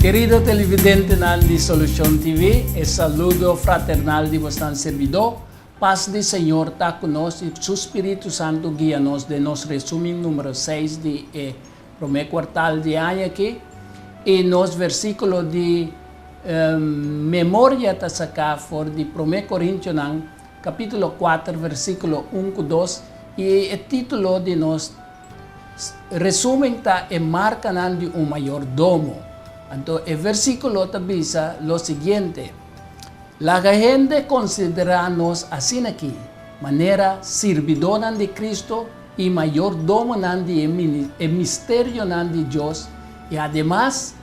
Kerido televidentenan di Solucion TV, e saludo fraternal di bosnan serbidó. Pas di Señor ta ku nos i Su Spiritu Santu guia nos den nos resumen numero seis di e Promé kuartal di aña aki, i nos versíkulo di memoria ta saká for di Promé Korintionan kapítulo kuater versíkulo un ku dos, i e título di nos resúmen ta E markanan di un mayordomo. Anto e versíkulo ta bisa lo siguiente, Laga hende konsiderá nos asin'akí, manera sirbidónan di Kristu, i mayordomonan di e misterionan di Dios, i ademas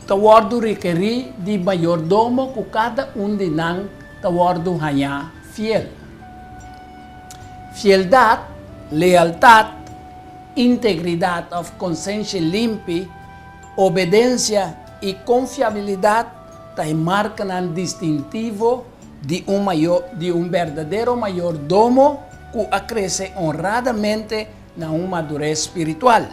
ta wòrdu rekerí di mayordomo ku kada un di nan ta wòrdu hañá fiel. Fieldat, lealtat, integridat òf konsenshi limpi, obedensia i konfiabilidat ta e markanan distintivo di un mayo di un berdadero mayordomo ku a krese onradamente na un madures spiritual.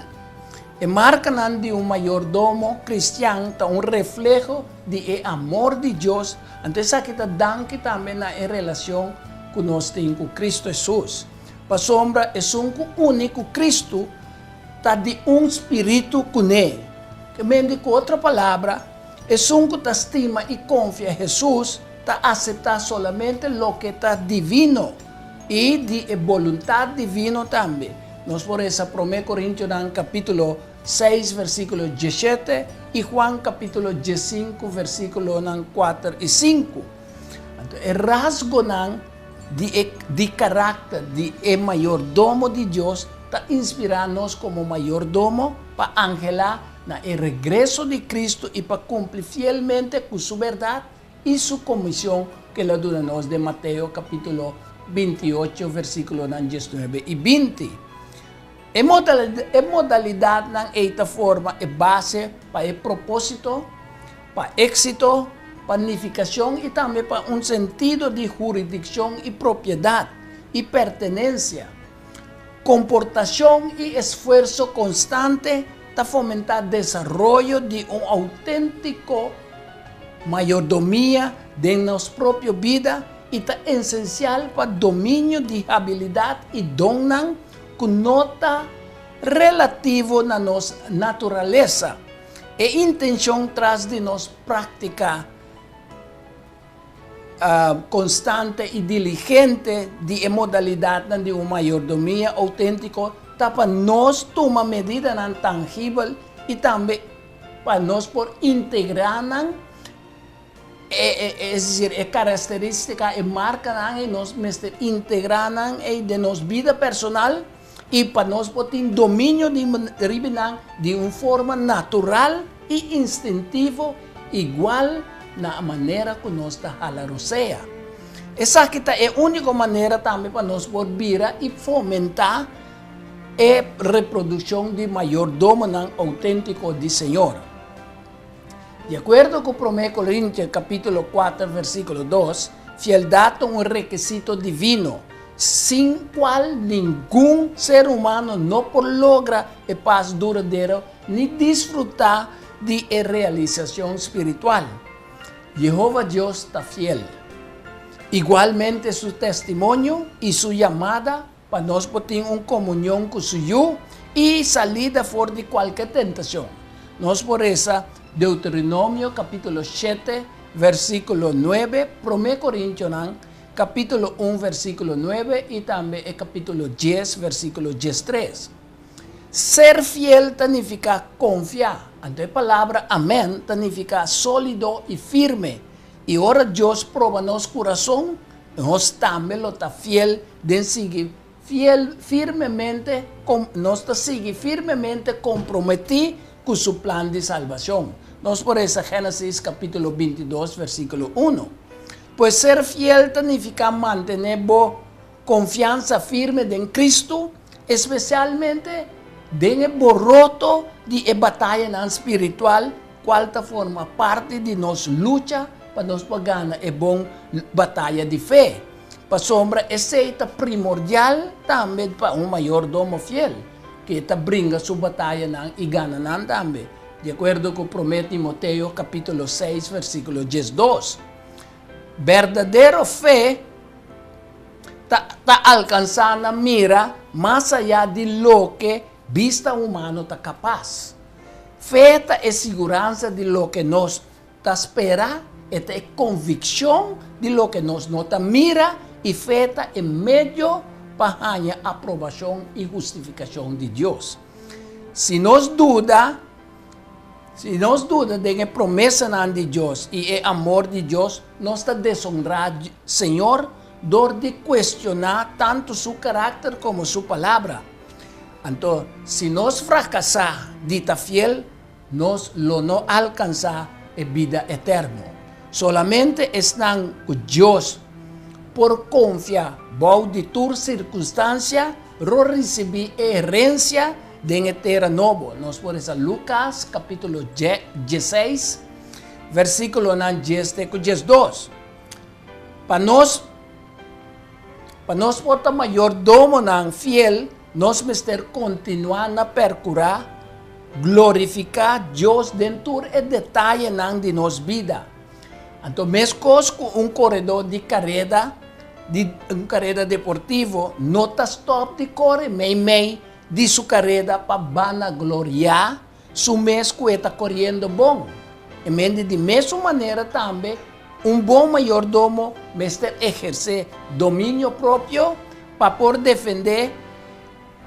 E markanan di un mayordomo kristian ta un refleho di e amor di Dios, anto esaki ta danki tambe na e relacion ku nos tin ku Cristo Hesus. Pasobra esun ku uni ku Cristo ta di un spiritu kuné, ke men di ku otro palabra, Esun ku ta stima i konfia Hesus ta aseptá solamente loke ta divino i di e boluntat divino tambe. Nos por resa Promé Korintionan kapítulo seis versíkulo diesshete i Juan kapítulo diessinku versíkulonan kuater i sinku. Anto e rasgonan di e di karakter di e mayordomo di Dios ta inspirá nos komo mayordomo pa anhelá na e regreso di Cristo i pa cumpli fielmente cu su berdad i su comision cu el a duna nos den Mateo capitulo binti i ocho versiculonan dies nuebe i binti. E e modalidadnan ei ta forma e base pa e proposito pa exito, pa nificacion i tambe pa un sentido di huridiccion i propiedad i pertenencia. Komportashon i esfuerso konstante ta fomentá desaroyo di un outéntiko mayordomia den nos propio bida i ta esensial pa dominio di habilidat i donnan ku no ta relativo na nos naturalesa. E intenshon tras di nos práktika. konstante i diligente di e modalidatnan di un mayordomia outéntiko ta pa nos tuma medidanan tangibel i tambe pa nos por integrá nan, es desir, e karakterístika, e markanan ei, nos mester integrá nan ei den nos bida personal i pa nos por tin dominio riba nan di un forma natural i instintivo igual na manera ku nos ta hala rosea. Esaki ta e úniko manera tambe pa nos por bira i fomentá e reprodukshon di mayordomonan outéntiko di Señor. Di akuerdo ku Promé Korintias kapítulo kuater vèrsíkulo dos, fieldat ta un rekisito divino sin cual ningun ser humano no por logra e paz duradero ni disfruta di e realisacion spiritual. Jehova Dios ta fiel. Igualmente su testimonio y su yamada pa nos por tin un comunion cu su Yu y salida for di cualke tentacion. Nos por reza Deuteronomio capitulo shete versiculo nuebe, Prome Corintionan capítulo un versículo nuebe y tambe e capítulo dies versículo diestres. Ser fiel ta nifica confia, anto e palabra amen ta nifica solido y firme, y ora Dios proba nos curason, nos tambe lo ta fiel den sigui fiel firmemente com, nos ta sigui firmemente comprometi cu su plan di salbacion. Nos por resa Genesis capitulo bintidos versiculo uno. Pues ser fiel ta nifica mantene bo confiansa firme den Cristo, especialmente den e boroto di e batayanan spiritual cual ta forma parti di nos lucha pa nos por gana e bon bataya di fe. Pasobra esei ta primordial tambe pa un mayordomo fiel, ku e ta bringa su batayanan i gana nan tambe, di akuerdo ku Promé Timoteo kapítulo seis, versíkulo diesdos. Berdadero fe ta alkansá na mira mas ayá di loke bista humano ta kapas. Fe ta e siguransa di loke nos Ta spera e ta e konvikshon di loke nos no ta mira i fe ta e medio pa haña aprobashon i hustifikashon di Dios. Si nos duda, si nos duda den e promesanan di Dios i e amor di Dios, nos ta deshonrá Señor dor di kuestioná tantu su karakter komo su Palabra. Anto, si nos frakasá di ta fiel, Nos lo no alkansá e bida eterno. Solamente esnan ku Dios por konfia bou di tur sirkunstansia lo risibí e herensia den e tera nobo. Nos por resa Lukas kapítulo dieseis, versíkulonan dies te ku diesdos pa nos. Pa nos por ta mayordomonan fiel, nos mester kontinuá na perkurá glorifiká Dios den tur e detayenan di nos bida. Anto meskos ku un koredó di kareda di un kareda deportivo no ta stòp di kore meimei di su kareda pa banagloriá Su mes cu e ta coriendo bon. E mende di mesun manera tambe, un bon mayordomo mester eherce dominio propio pa por defende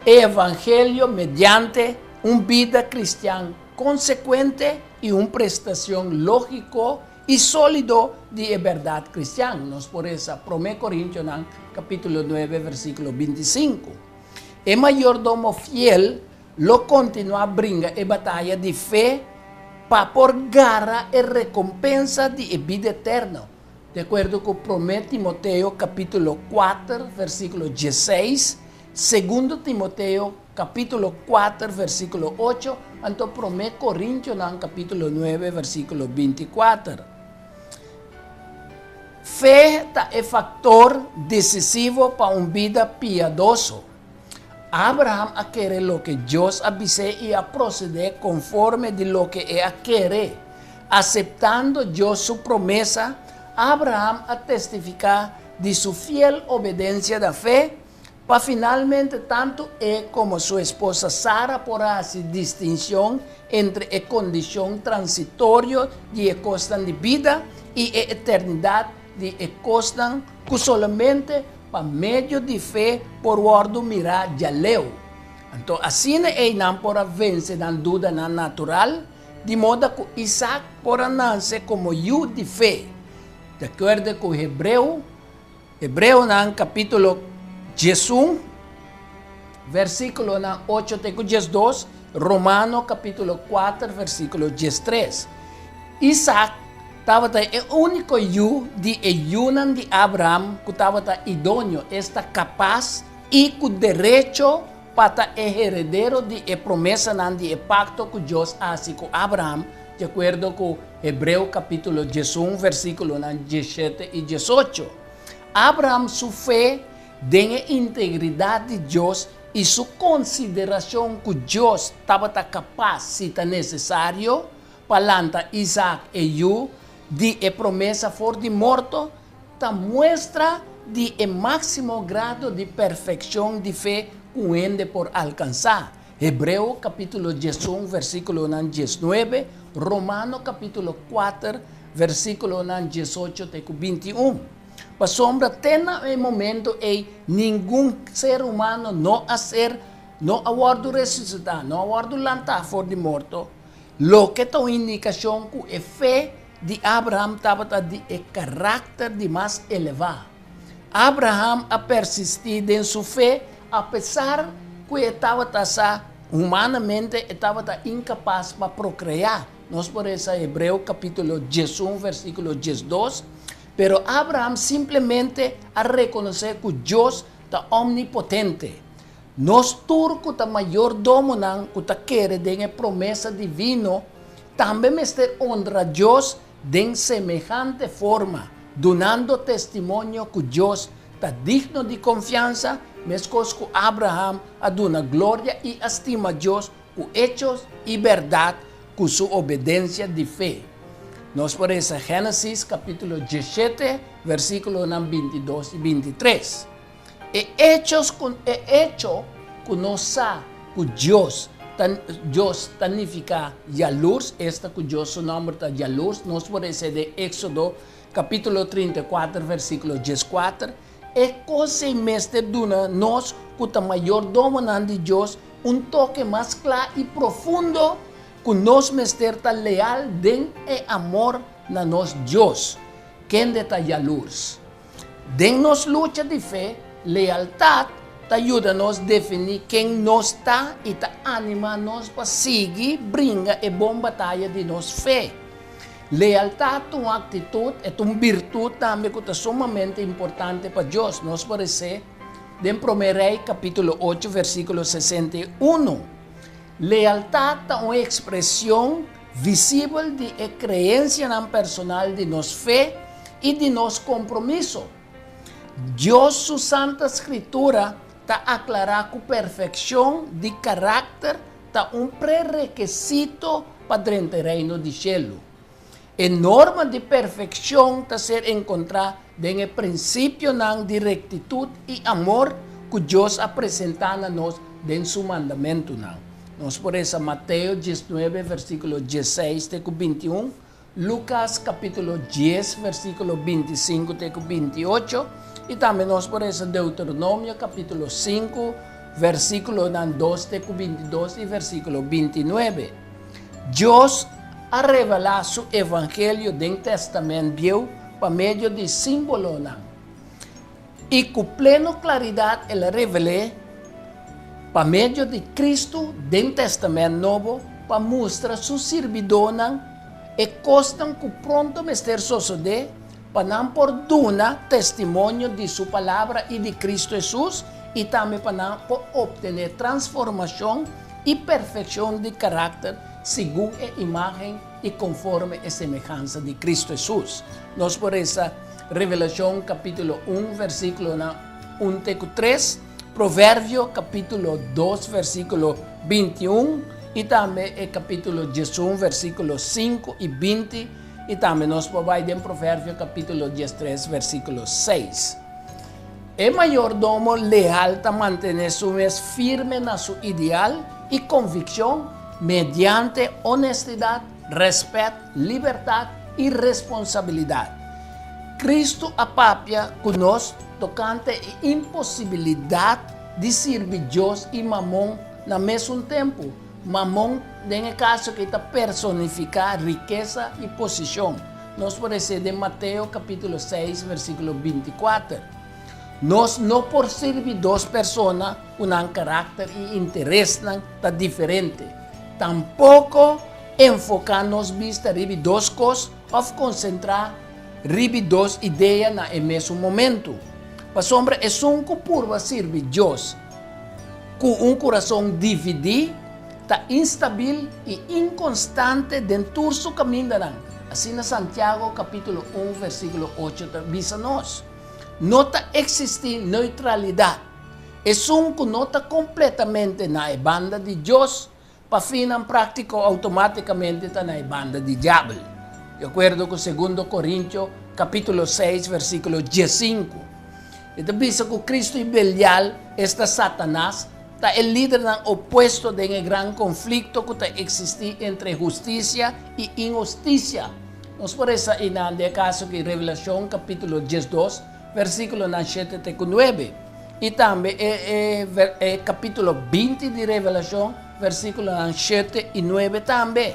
e evangelio mediante un bida cristian consecuente y un prestacion logico y solido di e berdad cristian. Nos por resa Prome Corintianan capitulo nuebe versiculo binti sinku. E mayordomo fiel. Lo kontinuá bringa e bataya di fe pa por gara e rekompensa di e bida eterno, di akuerdo ku Promé Timoteo kapítulo kuater versíkulo dieseis, Segundo Timoteo kapítulo kuater versíkulo ocho, anto Promé Korintionan kapítulo nuebe versíkulo binti kuater. Fe ta e faktor desisivo pa un bida piadoso. Abraham a kere loke Dios a bis'é i a prosede konforme di loke e a kere. Aseptando Dios su promesa, Abraham a testifiká di su fiel obedensia na fe, pa finalmente tantu e komo su esposa Sara por a hasi distinshon entre e kondishon transitorio di e kosnan di bida i e eternidat di e kosnan Ku solamente pa medio di fe por wòrdu mirá djaleu. Anto asina einan por a vense nan dudanan natural, di moda ku Isak por a nanse komo yu di fe, di akuerdo ku Hebreu, Hebreonan kapítulo diesun. Versículonan ocho te ku diesdos, Romano kapítulo kuater versículo diestres. Isak tabata e úniko yu di e yunan di Abraham ku tabata idoño, esta kapas i ku derecho pa ta e heredero di e promesanan di e pakto ku Dios a hasi ku Abraham, di akuerdo ku Hebreo kapítulo diesun versículonan diesshete i diesocho. Abraham su fe Den e integridad di Dios y su consideracion cu Dios tabata capaz si ta necesario pa lanta Isaac e yu di e promesa for di morto, ta muestra di e maximo grado di perfeccion di fe cu un hende por alcansa, Hebreo capitulo diesun versiculonan diesnuebe, Romano capitulo kuater versiculonan diesocho te cu binti un. Pasobra te na e momento ei ningun ser humano no a ser, no a wòrdu resusitá, no a wòrdu lantá for di morto, loke ta un indikashon ku e fe di Abraham tabata di e karakter di mas elevá. Abraham a persistí den su fe apesar ku e tabata sa humanamente e tabata inkapas pa prokreá, nos por resa Hebreo kapítulo diesun, versíkulo diesdos, Pero Abraham simplemente a rekonosé ku Dios ta omnipotente. Nos tur ku ta mayordomonan ku ta kere den e promesa divino tambe mester onra Dios den semehante forma, dunando testimonio ku Dios ta digno di konfiansa, meskos ku Abraham a duna gloria i a stima Dios Ku echos i bèrdat ku su obedensia di fe. Nos por resa Génesis kapítulo dieshete, versíkulonan bintidos i bintitres. E echos ku e echo ku nos sa ku Dios ta Dios ta nifiká yalurs, esta ku Dios su nòmber ta yalurs, nos por resa den Éksodo kapítulo trinta i kuater, versíkulo dieskuater. E kos ei mester duna nos ku ta mayordomonan di Dios un toke mas kla i profundo ku nos mester ta leal den e amor na nos Dios. Kende ta yalurs? Den nos lucha di fe, lealtat ta yuda nos definí ken nos ta i ta animá nos pa sigui bringa e bon bataya di nos fe. Lealtat ta un aktitut, e ta un birtut tambe ku ta sumamente importante pa Dios. Nos por esé den Promé Rei kapítulo ocho, versíkulo sesenta i unu, Lealtat ta un ekspresion visibel di e kreensianan personal di nos fe i di nos kompromiso. Dios su Santa Skritura ta aklará ku perfekshon di karakter ta un prerekesito pa drenta e Reino di Shelu. E norma di perfekshon ta ser enkontrá den e prinsipionan di rektitut i amor ku Dios a presentá na nos den su Mandamentunan. Nos por resa Mateo diesnuebe, versíkulo diesseis te ku bintiun, Lucas capítulo dies versículo binti sinku te ku binti ocho, i tambe nos por resa Deuteronomio capítulo sinku versículonan dos te ku binti dos i versículo binti nuebe. Dios a revelá Su evangelio den Tèstamènt Bieu pa medio di símbolonan. I ku pleno klaridat el a revel'é pa medio di Kristu den Tèstamènt Nobo pa mustra su sirbidónan e kosnan ku pronto mester sosodé pa nan por duna testimonio di su Palabra i di Kristu Hesus i tambe pa nan por optené transformashon i perfekshon di karakter segun e imágen i konforme e semehansa di Kristu Hesus. Nos por resa. Revelashon kapítulo un vèrsikulonan un te ku tres, Proverbio kapítulo dos vèrsikulo binti i un i tambe e kapítulo dies un vèrsikulo sinku i binti i tambe nos por bai den Proverbio kapítulo dies tres vèrsikulo seis. E mayordomo leal ta mantené su mes firme na su ideal i konvikshon mediante onestidat Rèspèt, libertat i responsabilidat. Kristu a papia ku nos tokante e imposibilidat di sirbi Dios i Mamon na mesun tempu. Mamon den e kaso aki ta personifiká rikesa i posishon. Nos por esei den Mateo kapítulo seis versíkulo binti kuater, Nos no por sirbi dos persona ku nan karakter i interesnan ta diferente. Tampoko enfoká nos bista riba dos kos òf konsentrá riba dos idea na e mesun momentu. Pasobra esun ku purba sirbi Dios ku un kurason dividí ta instabil i inkonstante den tur su kamindanan. Asina Santiago kapítulo un, versíkulo ocho ta bisa nos, No ta eksistí neutralidat. esun ku no ta kompletamente na e banda di Dios, pafinnan práktiko outomátikamente ta na e banda di diabel, di akuerdo ku Segundo Korintio kapítulo seis versíkulo diesinku. E ta bisa ku Kristu i Belial, esta Satanas, ta e lidernan opuesto den e gran konflikto ku ta eksistí entre hustisia i inhustisia. Nos por resa einan den e kaso ku Revelashon kapítulo diesdos versíkulonan shete te ku nuebe, i tambe e kapítulo binti di Revelashon, versíkulonan shete i nuebe tambe.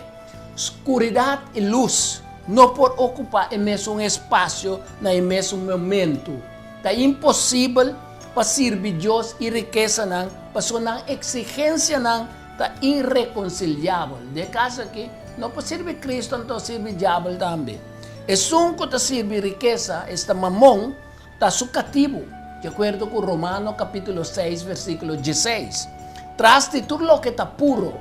Skuridat i lus no por okupá e mesun espasio na e mesun momentu. Ta imposibel pa sirbi Dios i rikesanan pasobra nan eksigensianan ta irreconciliabel. Di e caso aki, no por sirbi Cristo anto sirbi diabel tambe. Esun cu ta sirbi rikesa, esta Mamon, ta su catibu, di acuerdo cu Romano capitulo seis versiculo dieseis. Tras di tur loke ta puro,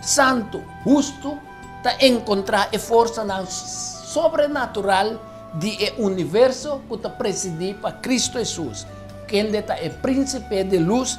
santu, hustu, ta encontra e forsanan sobrenatural di e universo cu ta presidi pa Cristo Hesus, kende ta e Principe di luz,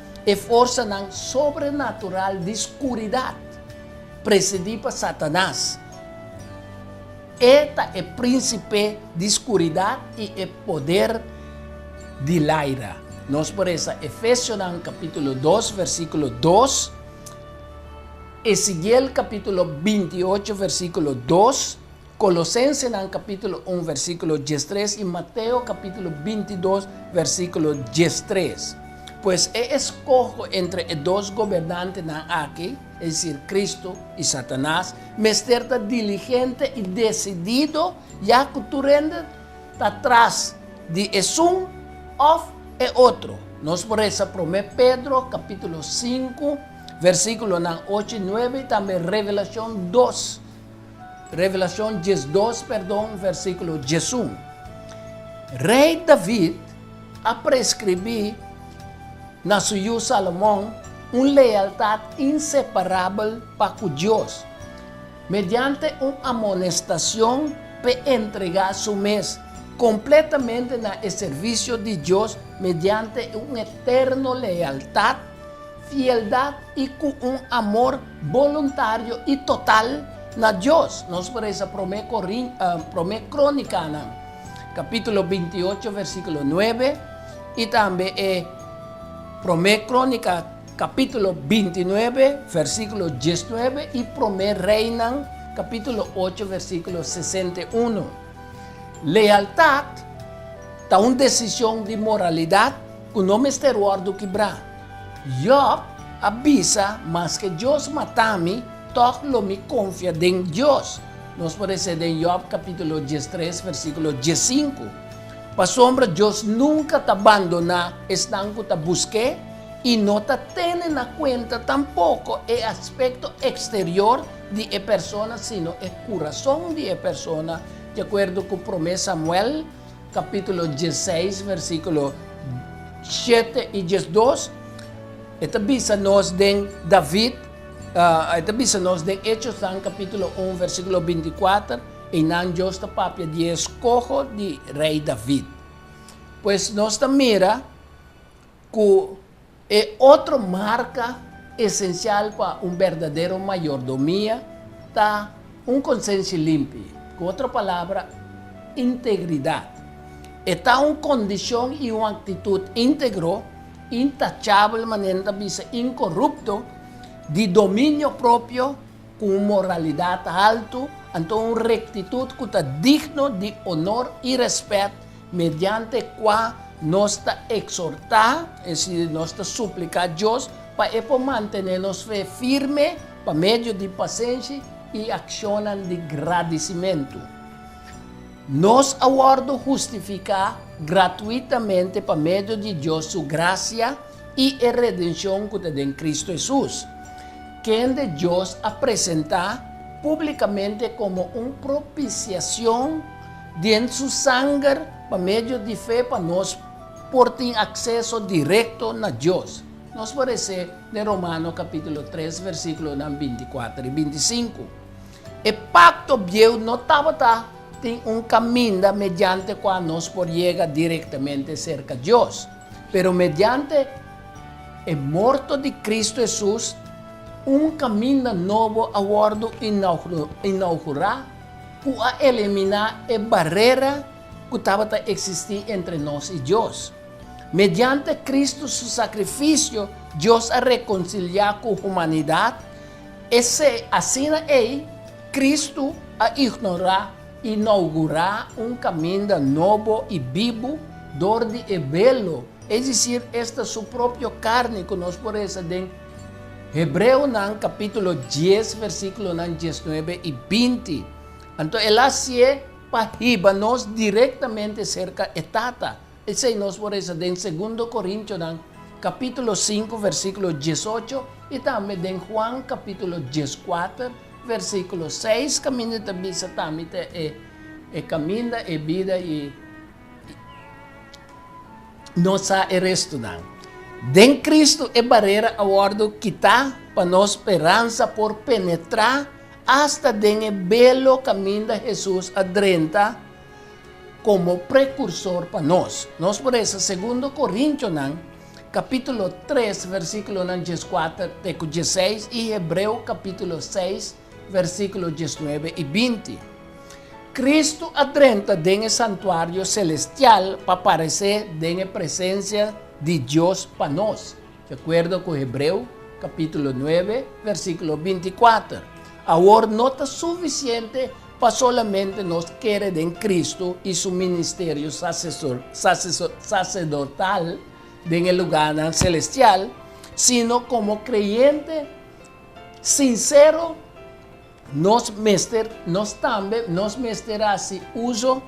E forsanan sobrenatural di skuridat, presidí pa Satanas. E ta e prínsipé di skuridat i e poder di laira. Nos por resa Efesionan kapítulo dos versíkulo dos, Esekiel kapítulo binti ocho versíkulo dos, Colosensenan capítulo un versículo diestres y Mateo capítulo bintidos versículo diestres. Pues e escoho entre e dos gobernantenan aki, es decir Cristo y Satanás, mester ta diligente y decidido ya cu tur hende ta tras di esun of e otro. Nos por resa prome Pedro capítulo sinku versículonan ocho y nuebe y tambe Revelacion dos, Revelacion diesdos perdon versiculo diesun Rey David a prescribi na su yu Salomon un lealtad inseparabel pa cu Dios mediante un amonestacion p'e entrega su mes completamente na e servicio di Dios mediante un eterno lealtad fieldad i cu un amor boluntario i total na Dios. Nos por resa Prome Corin, Prome Cronicanan, capítulo binti i ocho, versículo nuebe, i tambe e Prome Cronica, capítulo binti i nuebe, versículo diesnuebe, i Prome Reinan, capítulo ocho, versículo sesenta i uno. Lealtad ta un decision di moralidad cu no mester wordo kibra. Jòb a bisa, Maske Dios mata mi, tòg lo mi konfia den Dios. Nos por lesa e den Jòb kapítulo dies tres, versíkulo dies sinku. Pasobra Dios nunka ta bandoná esnan ku ta busk'é i no ta tene na kuenta tampoko e aspekto eksterior di e persona sino e kurason di e persona, di akuerdo ku Promé Samuel. capítulo dieseis versículo shete i diesdos, e ta bisa nos den David, e ta bisa nos den Hechosnan capítulo un versículo binti i kuater, einan Dios ta papia di e skoho di rei David. Pues nos ta mira ku E otro marka esensial pa un berdadero mayordomia ta un konsenshi limpi, ku otro palabra, integridat. E ta un kondishon i un aktitut íntegro, intachabel, manera nan ta bisa inkorupto, di dominio propio, ku un moralidat haltu, anto un rektitut ku ta digno di onor i rèspèt Mediante kua nos ta eksortá, es decir, nos ta supliká Dios pa E por mantené nos fe firme pa medio di pasenshi i akshonnan di gradisimentu. Nos a wòrdu hustifiká gratuitamente pa medio di Dios su grasia i e redenshon ku ta den Kristu Hesus, kende Dios a presentá públikamente komo un propisiashon Den su sanger, pa medio di fe pa nos por tin akseso direkto na Dios. Nos por esé den Romano kapítulo tres versíkulonan binti kuater i binti sinku. E Pakto Bieu no tabata tin un kaminda mediante kua nos por yega direktamente serka Dios, pero mediante e morto di Kristu Hesus, un kaminda nobo a wòrdu inaugurá. ku a eliminá e barera ku tabata eksistí entre nos i Dios. Mediante Kristu su sakrifisio, Dios a rekonsiliá ku humanidat, esei asina ei Kristu a ignorá i nougurá un kaminda nobo i bibu dor di e belo, es disir, esta su propio karni ku nos por resa den Hebreonan capítulo dies versículonan diesnuebe y binti. Anto el a hacié pa hiba nos directamente cerca e Tata. Esei nos por reza den Segundo Corintionan capítulo sinku versículo diesocho y tambe den Juan capítulo dieskuater versículo seis caminda ta bisa tambe ta e caminda, e bida y. Nos sa e restunan. Den Cristo e barera a wòrdu kitá pa nos speransa por penetrá asta den e belo kaminda Hesus a drenta komo prekursor pa nos. Nos por resa Segundo Korintionan kapítulo tres versíkulonan djeskuater te ku djeseis i Hebreo kapítulo seis Versíkulo diesnuebe i binti. Kristu a drenta den e santuario selestial pa paresé den e presensia di Dios pa nos, di akuerdo ku Hebreo kapítulo nuebe, versíkulo binti kuater. Awor no ta sufisiente pa solamente nos kere den Kristu i su ministerio saserdortal den e lugánan selestial, sino komo kreyente, Sinsero, nos mester, nos tambe nos mester hasi uso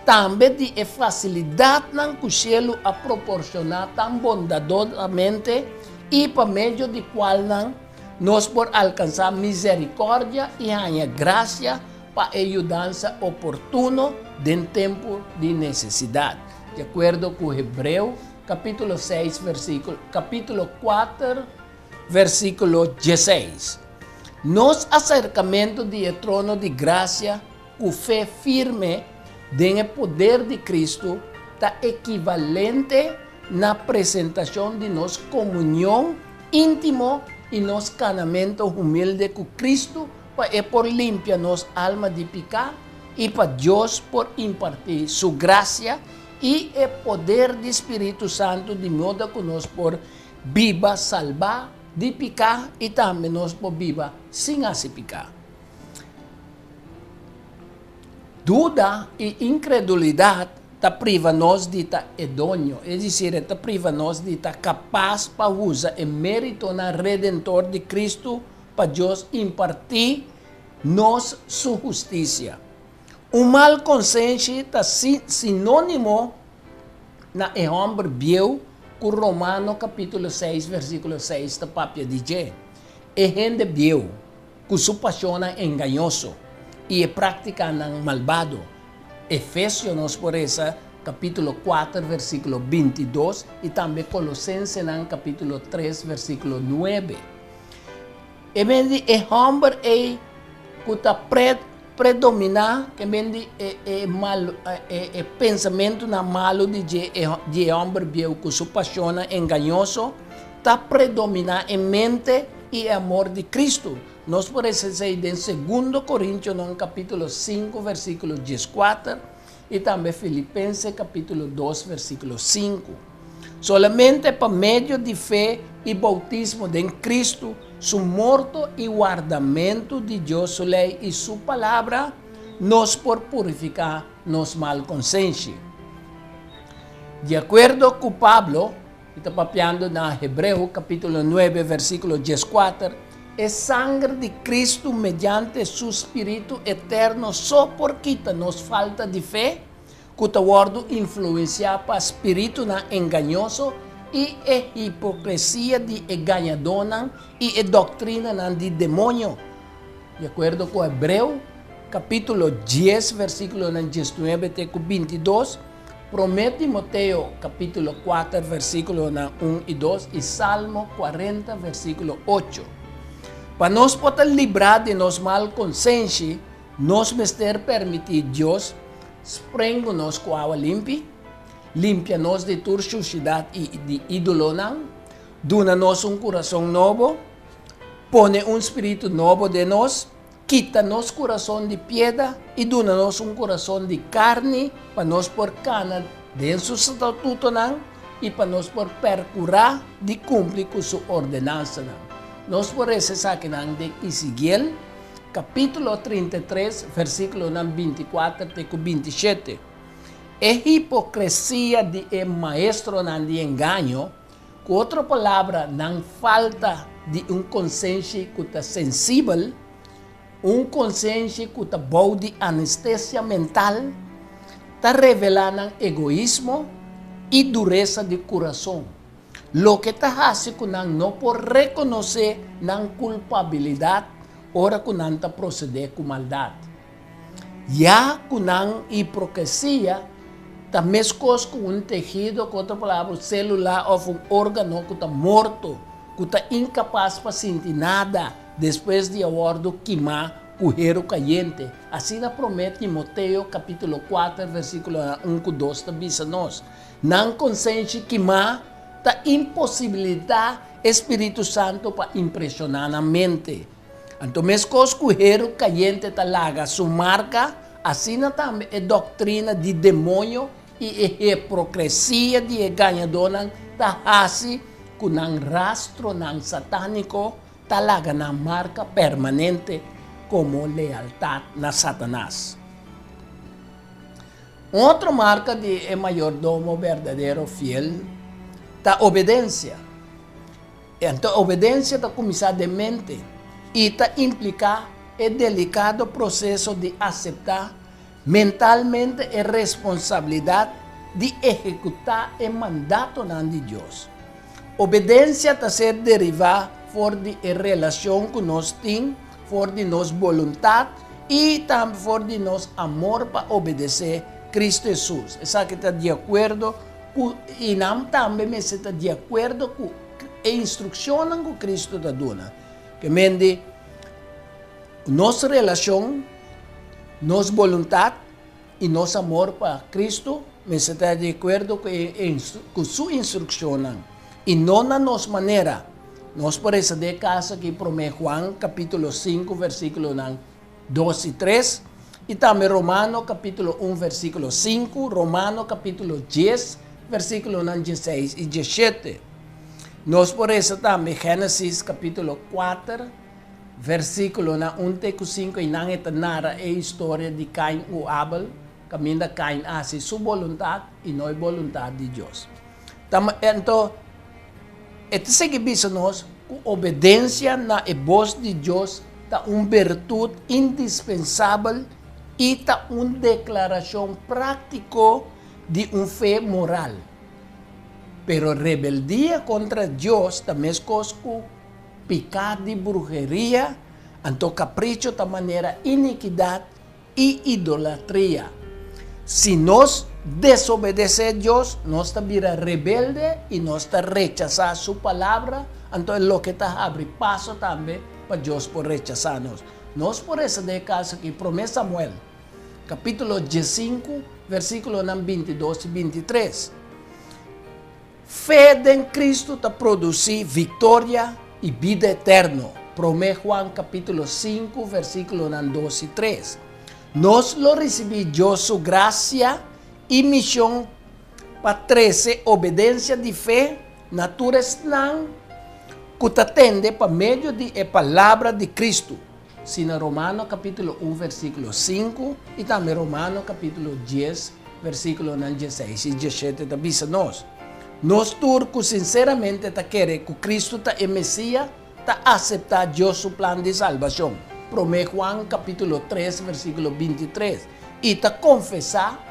tambe di e fasilidatnan ku shelu a proporshoná tan bondadosamente i pa medio di kualnan nos por alkansá miserikòrdia i haña grasia pa e yudansa oportuno den tempu di nesesidat, di akuerdo ku Hebreo kapítulo seis vèrsikulo kapítulo kuater. Versíkulo diesseis, Nos a serkamentu di e trono di grasia ku fe firme den e poder di Kristu ta ekivalente na presentashon di nos komunion íntimo i nos kanamentu humilde ku Kristu pa e por limpia nos alma di piká i pa Dios por impartí Su grasia i e poder di Spiritu Santu di moda ku nos por Biba salbá di piká i tambe nos por biba sin hasi piká. Duda i inkredulidat ta priva nos di ta edoño, es decir, e ta priva nos di ta kapas pa usa e méritonan redentor di Cristo pa Dios impartí nos su hustisia. Un mal konsenshi ta sinónimo na e hòmber bieu ku Romano kapítulo seis, versíkulo seis ta papia di dje, e hende bieu ku su pashonnan engañoso i e práktikanan malbado. Efesio, nos por resa, kapítulo kuater, versíkulo binti dos i tambe Kolosensenan kapítulo tres, versíkulo nuebe. E men di e hòmber ei ku ta pret predominá, ke men di e e mal e pensamentunan malu di dje di e hòmber bieu ku su pashonnan engañoso, ta predominá e mente i e amor di Kristu. Nos por esei den Segundo Korintionon kapítulo sinku vèrsikulo dieskuater. i tambe Filipense kapítulo dos versíkulo sinku. Solamente pa medio di fe i boutismo den Kristu su morto i wardamentu di Dios su lei i su palabra nos por purifiká nos mal konsenshi. Di akuerdo ku Pablo, I ta papiando na Hebreo capitulo nuebe versiculo dieskuater, E sanger di Cristo mediante Su Spiritu eterno so por kita nos falta di fe cu ta wordo influencia pa spiritunan engañoso i e hipocresia di e gañadónan i e doctrinanan di demonio, di acuerdo cu Hebreo capitulo dies versiculonan diesnuebe te cu bintidos. Promé Timoteo kapítulo kuater versíkulonan un i dos i Salmo kuarenta versíkulo ocho. Pa nos por ta librá di nos mal konsenshi, nos mester permití Dios sprengu nos ku awa limpi, limpia nos di tur shushidat i di ídolonan, duna nos un kurason nobo, pone un spiritu nobo den nos, Kita nos kurason di pieda i duna nos un kurason di karni pa nos por kana den su statutonan i pa nos por perkurá di kumpli ku su ordenansanan. Nos por resa esakinan den Isigiel kapítulo trinta i tres, versíkulonan binti i kuater te ku binti i shete, E hipokresia di e maestronan di engaño, Ku otro palabra, nan falta di un konsenshi ku ta sensibel, un konsenshi ku ta bou di anestesia mental, ta revelá nan egoismo i duresa di kurason, loke ta hasi ku nan no por rekonosé nan kulpabilidat ora ku nan ta prosedé ku maldat. Ya cu nan hiprokesia ta mescos cu un tehido, cu otro palabra un celula of un organo cu ta morto, cu ta incapaz pa sinti nada despues di a wordo kima cu heru cayente. Asina prome Timoteo capitulo kuater versiculonan un cu dos ta bisa nos. Nan consenshi kima ta imposibilita e Spiritu Santo pa impresiona nan mente. Anto meskos ku heru kayente ta laga su marka, asina tambe e doktrina di demonio i e hiprokresia di e gañadónan ta hasi ku nan rastronan satániko ta laga nan marka permanente komo lealtat na Satanas. Un otro marka di e mayordomo berdadero fiel ta obedensia. Enton obedencia ta cuminsa den mente y ta implica e delicado proceso di acepta mentalmente e responsabilidad di ehecuta e mandatonan di Dios. Obedencia ta ser deriva for di e relacion cu nos tin for di nos boluntad y tambe for di nos amor pa obedece Cristo Hesus. Esaki ta di acuerdo. ku i nan tambe mester ta di akuerdo ku e instrukshonnan ku Kristu ta duna. Ke mende, nos relashon, nos boluntat i nos amor pa Kristu mester ta di akuerdo ku e ku su instrukshonnan i no na nos manera. Nos por resondé kas aki promé Juan kapítulo sinku versíkulonan. dos i tres, i tambe Romano kapítulo un versíkulo sinku, Romano kapítulo dies versíkulonan dieseis i diesshete. Nos por resa tambe Génesis kapítulo kuater versíkulonan un te ku sinku einan e ta nara e historia di Kain ku Abel kaminda Kain a hasi su boluntat i no e boluntat di Dios. Ta ma e anto e ta sigui bisa nos ku obedensia na e bos di Dios ta un birtut indispensabel i ta un deklarashon práktiko di un fe moral. Pero rebeldia kontra Dios ta meskos ku piká di bruheria, anto kapricho ta manera inikidat, i idolatria. Si nos desobedesé Dios, nos ta bira rebelde i nos ta rechasá su Palabra, anto e loke ta habri paso tambe pa Dios por rechasá nos. Nos por resa den e kaso akí, Promé Samuel, kapítulo diesinku, versíkulonan bintidos i bintitres. Fe den Cristo ta produci victoria y bida eterno, Prome Juan capitulo sinku versiculonan dos y tres. Nos lo ricibi Dios su gracia y mision pa trece obedencia di fe na tur esnan cu ta tende pa medio di e palabra di Cristo. Si na Romano capítulo un versículo sinku i tambe Romano capítulo dies versículonan dieseis i dieshete ta bisa nos, Nos tur ku sinseramente ta kere ku Kristu ta e Mesia ta aseptá Dios su plan di salbashon, Promé Juan capítulo tres versículo binti tres, i ta konfesá.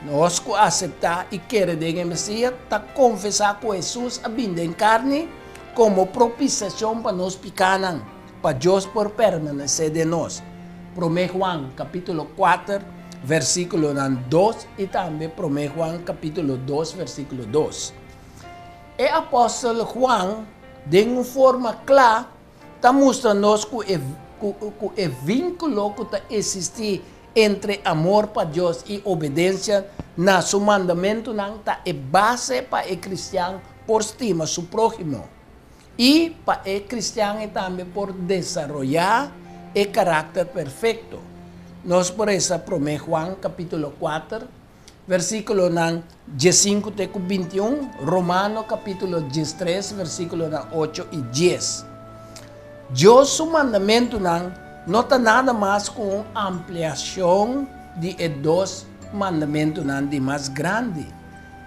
Nos ku aseptá i kere den e Mesia ta konfesá ku Hesus a bin den karni komo propisiashon pa nos pikánan. pa Dios por permanece den nos, Prome Juan capítulo kuater versículonan dos y tambe Prome Juan capítulo dos versículo dos. E apostel Juan den un forma cla ta mustra nos cu e cu e vinculo cu ta existi entre amor pa Dios y obedencia na su mandamentonan ta e base pa e cristian por stima su prohimo. I pa e kristian e tambe por desaroyá e karakter perfekto. Nos por resa Promé Juan kapítulo kuater, versíkulonan diesinku te ku bintiun, Romano kapítulo diestres, versíkulonan ocho i dies. Dios su mandamentunan no ta nada mas ku un ampliashon di e dos mandamentunan di mas grandi.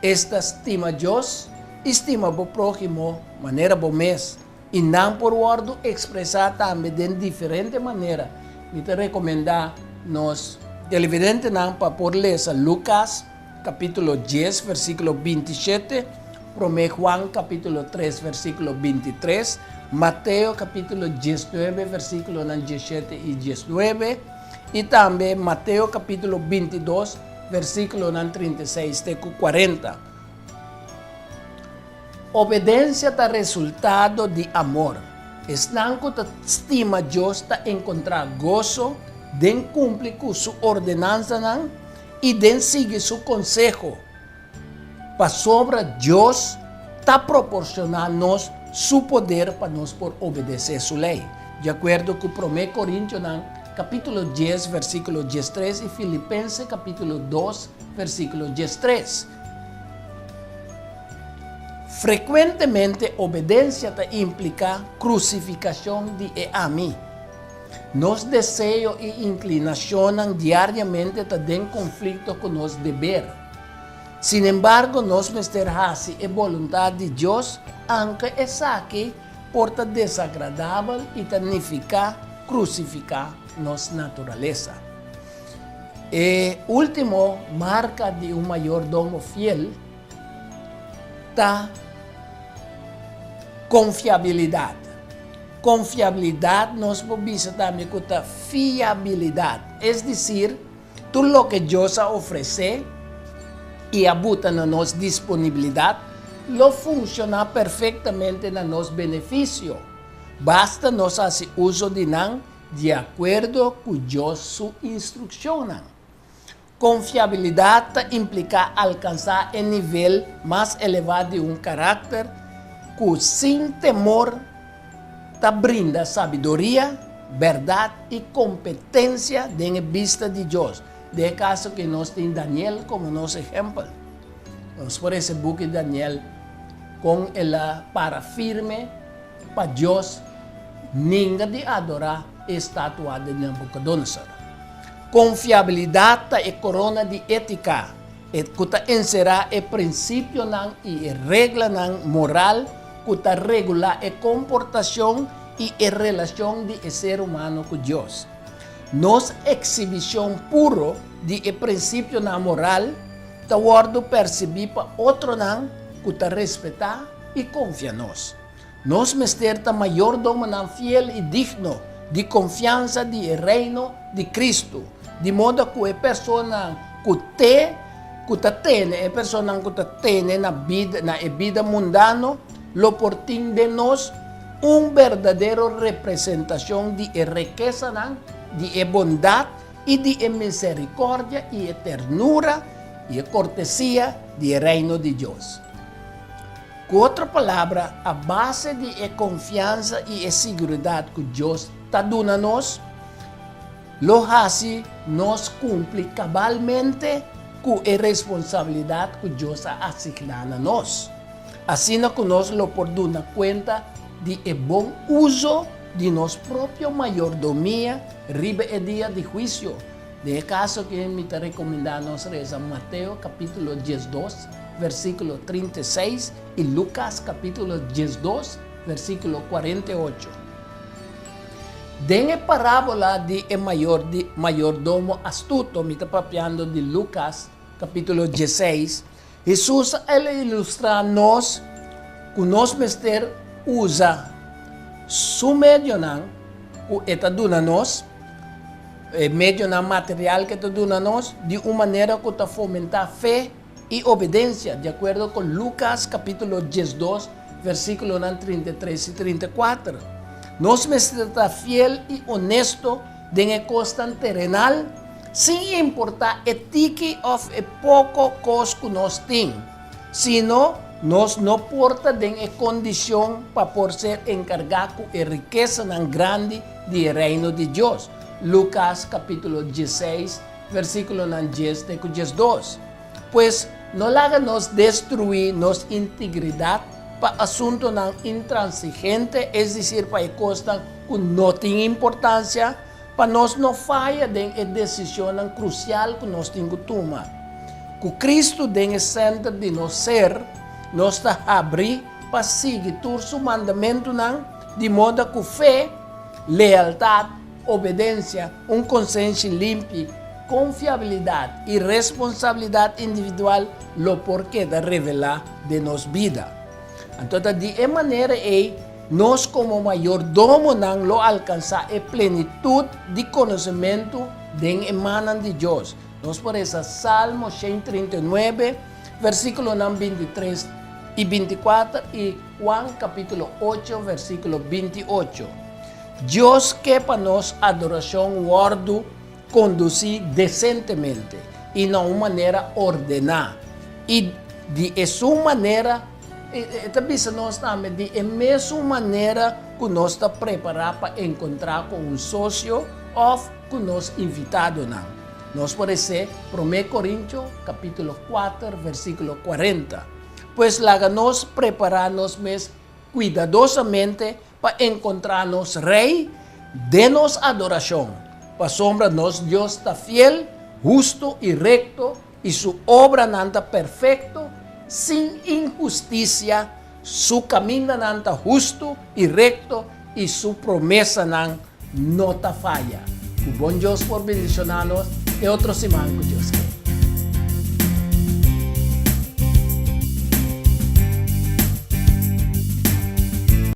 Esta stima Dios i stima bo próhimo manera bo mes, i nan por wòrdu ekspresá tambe den diferente manera. Mi ta rekomendá nos televidentenan pa por lesa Lukas kapítulo dies versíkulo binti shete, Promé Juan kapítulo tres versíkulo binti tres, Mateo kapítulo diesnuebe versíkulonan dieshete i diesnuebe, i tambe Mateo kapítulo bintidos, versíkulonan trinta i seis te ku kuarenta. Obedensia ta resultado di amor. Esnan ku ta stima Dios ta enkontrá goso den kumpli ku su ordenansanan i den sigui su konseho. Pasobra Dios ta proporcioná nos su poder pa nos por obedecé su ley. Di acuerdo cu Promé Corintionan capítulo dies versículo diestres y Filipense capítulo dos versículo diestres, frecuentemente obedencia ta implicá crucificacion di e ami. Nos deseo y inclinacionnan diariamente ta den conflicto cu nos deber. Sin embargo, nos mester haci e boluntad di Dios anke esaki por ta desagradabel y ta nifica crucifica nos naturalesa. E ultimo marca di un mayordomo fiel ta confiabilidad. Confiabilidad nos por bisa tambe cu ta fiabilidad, es decir, Tur loke Dios a ofresé i a buta na nos disponibilidat lo funshoná perfektamente na nos benefisio, basta nos hasi uso di nan di akuerdo ku Dios su instrukshonnan. Konfiabilidat ta impliká alkansá e nivel mas elevá di un karakter ku sin temor, Ta brinda sabiduria, berdad i kompetensia den e bista di Dios. Den e kaso aki nos tin Daniel komo nos ehèmpel. Nos por hesé buki di Daniel kon el a para firme pa Dios ninga di adorá e estatua di Nabucodonosor. Konfiabilidad ta e korona di étika. e ku ta enserá e prinsipionan i e reglanan moral ku ta regulá e komportashon i e relashon di e ser humano ku Dios. Nos eksibishon puro di e prinsipionan moral ta wòrdu persibí pa otronan ku ta respetá i konfia nos. Nos mester ta mayordomonan fiel i digno di konfiansa di e Reino di Kristu, di moda ku e personanan ku te ku ta tene, e personanan ku ta tene na bida, na e bida mundano, lo por tin den nos un berdadero representashon di e rekesanan di e bondat i di e miserikòrdia i e ternura i e kortesia di e Reino di Dios. Ku otro palabra, a base di e konfiansa i e siguridat ku Dios ta duna nos, lo hasi nos kumpli kabalmente ku e responsabilidat ku Dios a asigná na nos. Asina ku nos lo por duna kuenta di e bon uso di nos propio mayordomia riba e dia di huisio, Den e kaso aki mi ta rekomendá nos resa Mateo kapítulo diesdos, versíkulo trinta i seis i Lukas kapítulo diesdos, versíkulo kuarenta i ocho. Den e parábola di e mayor di mayordomo astuto, mi ta papiando di Lukas kapítulo dieseis, Hesus a ilustrá nos ku nos mester usa su medionan ku e ta duna nos, e medionan material ku e ta duna nos, di un manera ku ta fomentá fe i obedensia, di akuerdo ku Lukas kapítulo diesdos, versíkulonan trinta i tres i trinta i kuater. Nos mester ta fiel i onesto Den e kosnan terenal, sin importá e tiki òf e poko kos ku nos tin, sino nos no por ta den e kondishon pa por ser enkargá ku e rikesanan grandi di e Reino di Dios, Lukas kapítulo dieseis, versíkulonan dies te ku diesdos. Pues, no laga nos destruí nos integridat pa asuntunan intransigente, es decir pa e cosnan cu no tin importancia, pa nos no faya den e decisionnan crucial cu nos tin cu tuma. Cu Cristo den e center di nos ser, nos ta habrí pa sigui tur su mandamentunan di moda cu fe, lealtad, obedencia, Un konsenshi limpi, konfiabilidat i responsabilidat individual lo por keda revelá den nos bida. Anto ta di e manera ei nos komo mayordomonan lo alkansá e plenitut di konosementu den e mannan di Dios. Nos por resa Salmo shen i trinta i nuebe, versíkulonan binti i tres i binti i kuater i Juan kapítulo ocho, versíkulo binti i ocho. Dios ke pa nos adorashon wòrdu kondusí desentemente i na un manera ordená. I di esun manera, e ta bisa nos tambe, di e mesun manera ku nos ta prepará pa enkontrá ku un sosio òf ku nos invitadonan. Nos por esé Promé Korintio kapítulo kuater versíkulo kuarenta, Pues laga nos prepará nos mes kuidadosamente Pa encontra nos Rey den nos adoracion, pasobra nos Dios ta fiel, hustu i recto, i su obranan ta perfecto, sin inhusticia, su camindanan ta hustu i recto, i su promesanan no ta faya. Cu bon Dios por bendiciona nos e otro siman cu Dios kere.